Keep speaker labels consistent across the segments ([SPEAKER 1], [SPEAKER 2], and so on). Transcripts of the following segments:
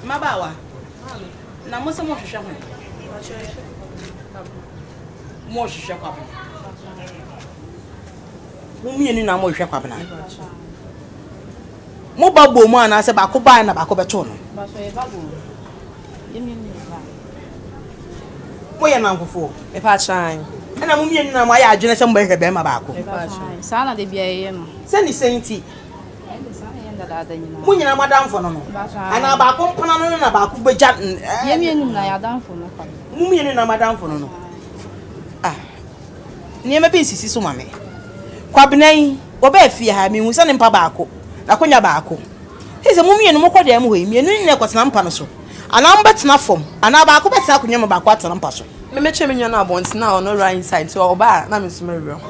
[SPEAKER 1] Mmabaawa, na mo se mohwehwɛ hwan? Mohwehwɛ Kwabena. Mo mmienu na mohwehwɛ Kwabena. Mo ba bom anaasɛ baako bae na baako bɛtoo no? Moyɛ nankofoɔ? Ɛna mo mmienu na moayɛ adwene sɛ mobɛhwehwɛ barima baako? Saa na da biara yɛyɛ no. Sɛ ne sɛn nti? Mo nyinaa mo adamfo no no. Anaa baako mpana no no na baako bɛgya. Yɛn mmienu nyinaa yɛ adamfo no kwa. Mo mmienu nyinaa mo adamfo no no. Ah, nneɛma bi nsisi so ma me. Kwabena yi, wɔbɛɛ fie ha, mehu sɛ ne mpa baako, n'akonnwa baako. Ɛsɛ sɛ mo mmienu mokɔ dan mu hɔ yi, mmienu nyinaa kɔtena mpa no so. Anaa mobɛtena fam, anaa baako bɛtena akonnwa mu, baako atena mpa so. Memekyerɛ me nua no abɔnten a ɔno right side, nti ɔba a na me nso mɛwerɛ ho.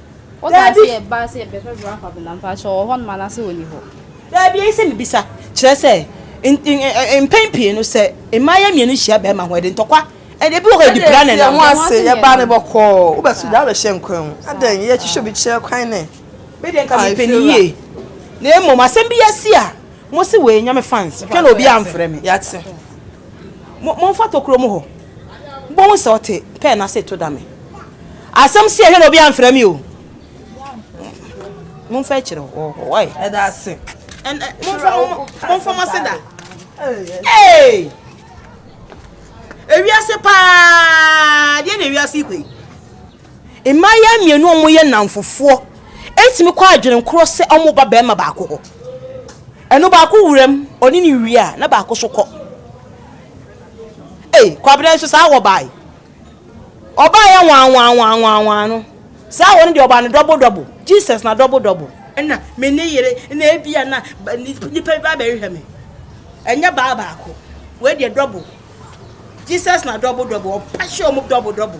[SPEAKER 1] Daabi. Daabi, eye sɛ mibisa. Kyerɛ sɛ, mpɛn pii no, sɛ mmayewa mmienu hyia barima ho a, ɛde ntɔkwa, ɛnna ebi wɔ hɔ a, ɛde pira na ɛnam. Ɛnde ɛte sɛ yɛn ho ase, yɛba no bɔkɔɔ, wobɛto gya abɛhyɛ nkwan mu. Adɛn, yɛhwehwɛ obi kyerɛ kwan nnɛ? Me deɛ, nka mepɛ no yie, na mmom asɛm bi asi a, mose wei Nyame fans, hwɛ na obiara amfrɛ me. Yɛate. Mo, momfa tokuro mu hɔ. Mobɛhu sɛ ɔte, pɛɛ no ase reto dame. Asɛm si ɛhwɛ na obi amfrɛ me o. Momfa akyire hɔ hɔ ɛ. Ɛda ase. Momfa mo ase da. Ee! Ewiase paa! Deɛ na ewiase kɔ yi. Mmaayewa mmienu a wɔyɛ nnamfofoɔ ɛtumi kɔ adwene korɔ sɛ wɔn ba barima baako hɔ. Ɛno baako wuram, ɔne ne wie a, na baako so kɔ. Ee, kwabrɛ nso saa wɔ baae. Ɔbaeɛ nwanwanwanwanwan no, saa wɔ no deɛ ɔbaa no double double, Jesus na double double. Ɛna me ne yere na ebia na nipa bi ba abɛhwehwɛ me, ɛnyɛ baa baako, wei deɛ double, Jesus na double double, ɔba hyɛ wɔn double double.